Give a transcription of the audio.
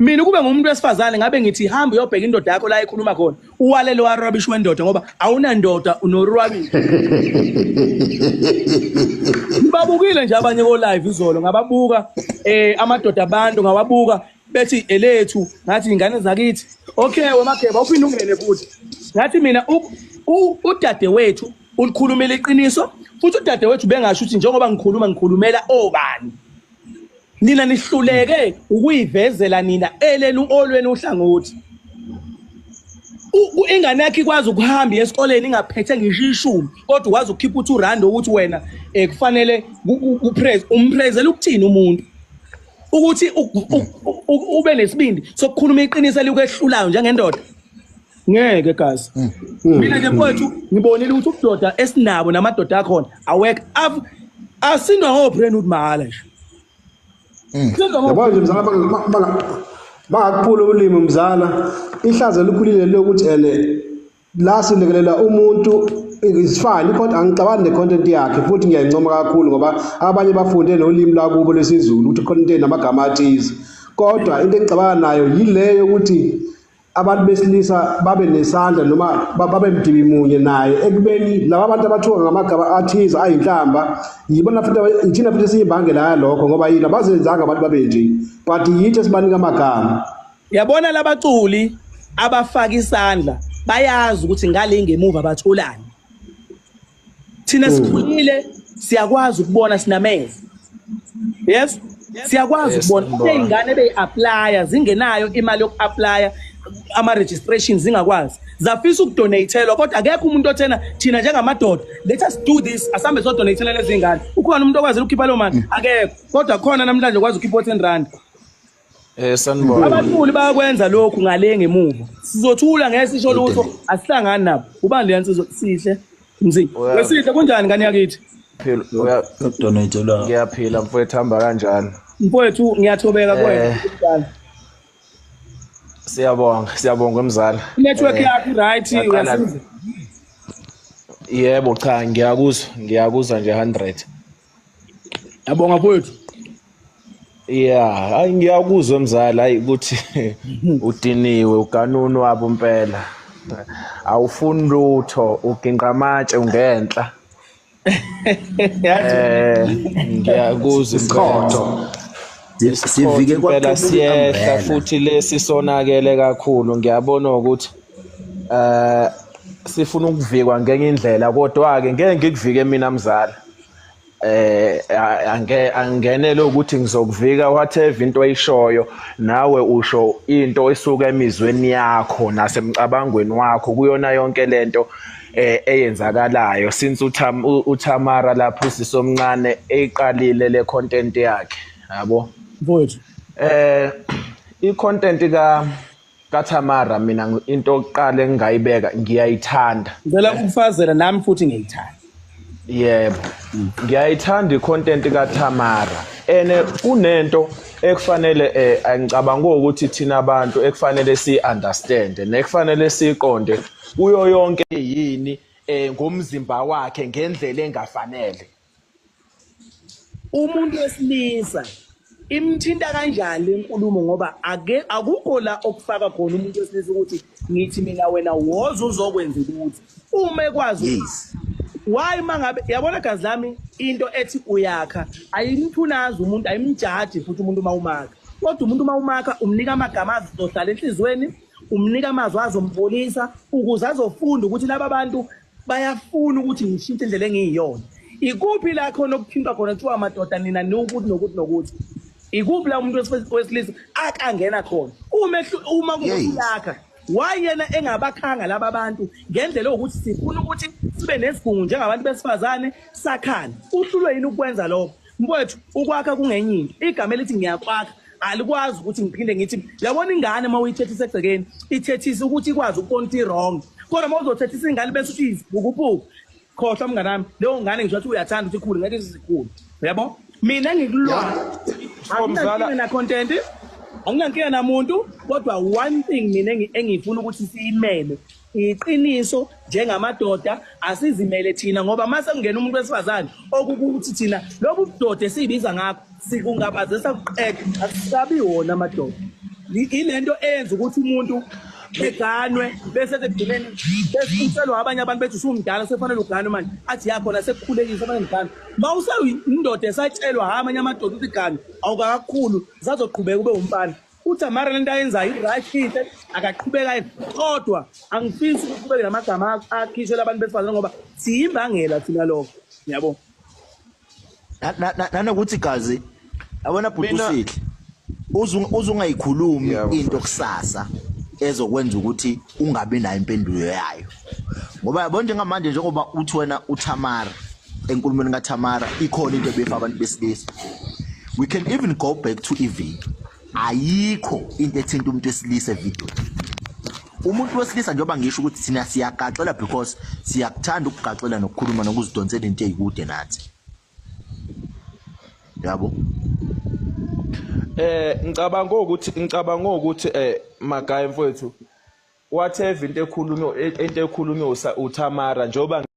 mina ukube ngumuntu wesifazane ngabe ngithi hamba uyobheka indoda yakho la ekhuluma khona uwalele warabish wendoda ngoba awunandoda unorwabish ngibabukile nje abanye ko-live izolo ngababuka um amadoda abantu ngawabuka bethi elethu ngathi ingane zakithi okay wemageba uphinde ungene futhi ngathi mina udade wethu ulikhulumela iqiniso futhi udade wethu bengasho ukuthi njengoba ngikhuluma ngikhulumela obani nina nihluleke ukuyivezela nina elenu olweni uhlangothi ingane yakhe ikwazi ukuhamba esikoleni ingaphethe ngisho ishumi kodwa ukwazi ukukhipha uthi urand ukuthi wena um kufanele upraise umpraisele ukuthini umuntu ukuthi ube nesibindi sokukhuluma iqiniso elikwehlulayo njengendoda ngeke gazi hmm. Hmm. mina ke mfowethu hmm. ngibonile ukuthi ubudoda esinabo namadoda akhona awek asindwa ngoprenude mahala nje yabona nje mzala bangakuphula ulimi mzala ihlazo elikhulile lokuthi ene la silekelela umuntu it's fine ikhonto angicabani ne-content yakhe futhi ngiyayincoma kakhulu ngoba abanye bafunde nolimi lwakubo lwesizulu ukuthi khona into enamagama athize kodwa into engicabana nayo yile yokuthi abantu besilisa babe nesandla noma babe mdibi munye naye ekubeni laba bantu abathiwa ngamagama athize ayinhlamba yibona futhi ithina futhi siyimbangela yalokho ngoba yini abazenzanga abantu babe nje but yithi esibanika amagama yabona labaculi abafaka isandla bayazi ukuthi ngale ngemuva batholani thina sikhulile siyakwazi ukubona sinamehlo yes siyakwazi ukubona kube ingane beyi-aplya zingenayo imali yoku-aplya ama-registration zingakwazi zafisa ukudonathelwa kodwa akekho umuntu othena thina njengamadoda let us do this asambe sodonathelwa lezi ngane ukhona umuntu okwazile ukukhipha loo mali akekho kodwa khona namhlanje kwazi ukhipha o-ten rand Eh sanibona. Abaculi bayakwenza lokhu ngale ngemuva. Sizothula ngeke sisho lutho, asihlangani nabo. Ubani le yansizwa sihle? Mzi. Wesihle kunjani ngani yakithi? Phela uya donate la. Ngiyaphila mfowethu hamba kanjani? Mfowethu ngiyathobeka kwena. Eh. Siyabonga, siyabonga mzala. Network eh, yakho right uyasiza. Yebo cha ngiyakuzwa, ngiyakuzwa nje 100. yabonga mfowethu Yeah, hayi ngiyakuzwa mzala hayi ukuthi udiniwe uganunu wabo impela. Awufuni lutho, uginqa amatshe ungenhla. Eh, ngiyakuzwa isikhotho. Sivike kwaphela siyehla futhi lesi sonakele kakhulu. Ngiyabona ukuthi eh sifuna ukuvikwa ngenye indlela kodwa ke ngeke ngikuvike mina mzala. eh ange angenele ukuthi ngizokuvika whatever into oyishoyo nawe usho into esuka emizweni yakho nasemcabangweni wakho kuyona yonke lento eh eyenzakalayo since utham uthamara lapho sisomncane eyiqalile le content yakhe yabo mfowethu eh i content ka kaThamara mina into oqale ngingayibeka ngiyayithanda ngicela ukufazela nami futhi ngiyithanda yebo ngiyayithanda icontent kaThamara ene kunento ekufanele eh angicabanga ukuthi thina abantu ekufanele si understand nekufanele siqonde kuyo yonke yini eh ngomzimba wakhe ngendlela engafanele umuntu wesilisa imthinta kanjani le nkulumo ngoba ake akukho la okufaka khona umuntu wesilisa ukuthi ngithi mina wena woza uzokwenza ukuthi uma ekwazi yes. why mangabe yabona gazi lami into ethi uyakha ayimthunazi umuntu ayimjaji futhi umuntu uma umaka kodwa umuntu uma umaka umnika amagama azohlala enhliziyweni umnika amazwi azombolisa ukuze azofunda ukuthi laba bantu bayafuna ukuthi ngishintshe indlela engiyiyona ikuphi la khona okuphindwa khona kuthiwa amadoda nina niwukuthi nokuthi nokuthi ikuphi la umuntu wesilisa akangena khona uma kuyakha wayena engabakhanga laba bantu ngendlela yokuthi sifuna ukuthi sibe nesigungu njengabantu besifazane sakhane uhlulwe yini ukwenza lokho Mfowethu ukwakha kungenye into. Igama elithi ngiyakwakha alikwazi ukuthi ngiphinde ngithi yabona ingane uma uyithethisa egcekeni ithethisa ukuthi ikwazi ukubona ukuthi wrong. Kodwa uma uzothethisa ingane bese uthi izibukubuku khohlwa mngane wami leyo ngane ngisho ukuthi uyathanda ukuthi ikhulu ngeke izikhulu. Uyabo? Mina ngikulona. Anginankinga na content. Anginankinga namuntu kodwa one thing mina engifuna ukuthi siyimele Iqiniso njengamadoda asizimele thina ngoba mase kungena umuntu wesifazane okukuthi thina lobu budoda esibiza ngakho sikungabazesa kuqede asisabi wona amadoda ilento eyenza ukuthi umuntu eganwe bese sekugcineni besinselwa abanye abantu bethi usumdala sekufanele uganwe manje athi yakhona sekukhulekile sekufanele ngiganwe ma useyindoda esatshelwa hha amanye amadoda ukuthi ganwe awukakakhulu sazoqhubeka ube wumfana UTamara lento ayenzayo i-right inhle akaqhubeka kodwa angifisi ukuthi kube namagama akhishwe labantu besifazane ngoba siyimbangela thina lokho yabo nanokuthi gazi yabona bhuti usihle uzungayikhulumi into kusasa ezokwenza ukuthi ungabi nayo impendulo yayo ngoba yabo njengamanje njengoba uthi wena uThamara enkulumeni kaThamara ikhona into ebefa abantu besilisa we can even go back to iviki ayikho into ethinta umuntu wesilisa evideo umuntu wesilisa njengoba ngisho ukuthi thina siyagaxela because siyakuthanda ukugaxela nokukhuluma nokuzidonsela into eyikude nathi yabo eh ngicabanga ukuthi ngicabanga ukuthi eh magaya mfowethu whatever into ekhulunywa into ekhulunywa uThamara njoba